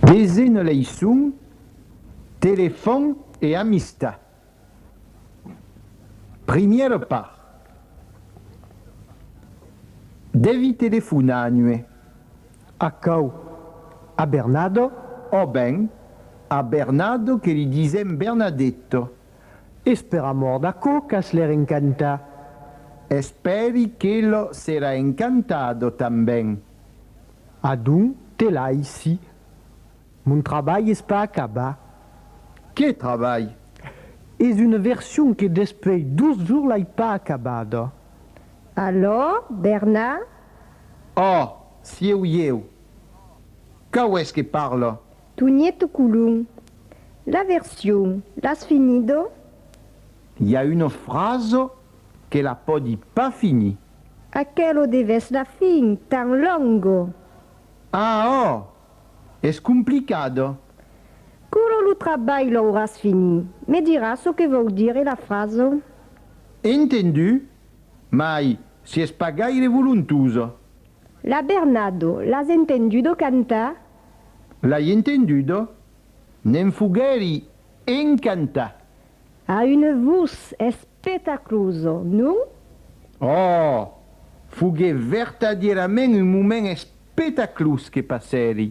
Desena leiçon, Telefòn e amistat. Primièra part, Devi telefonar a nue. Aquò, a Bernado? Ò ben, a Bernado que li disèm Bernadetto. Es per amor d'aquò qu'as l'air encantat. Espèri que lo serà encantado tanben. Adon te laissi. Mon trabalh es pas acabat. Qué trabalh? Es una version que despei dos jours l'ai pas acabada. Alò, Bernard? Òh, sieu ieu. Cau es que parla? Tonièto Colom. La version, l'as finido? I a una frasa que la pòdi pas finir. Aquelo de vèsla fin tan longo! Ah oh! Es complicado. Curo lo trabalh l'auràs fini. Me diràs çò que vòu dire la fraso? Entendu, mai si es pas gaire volontuso. La Bernado, l'as entendudo cantar? L'ai entendudo, ne'n foguèri encantat. A un vos espetacloso, non? Òòh! Foguèt vertadièrament un moment espetaclós que passèri.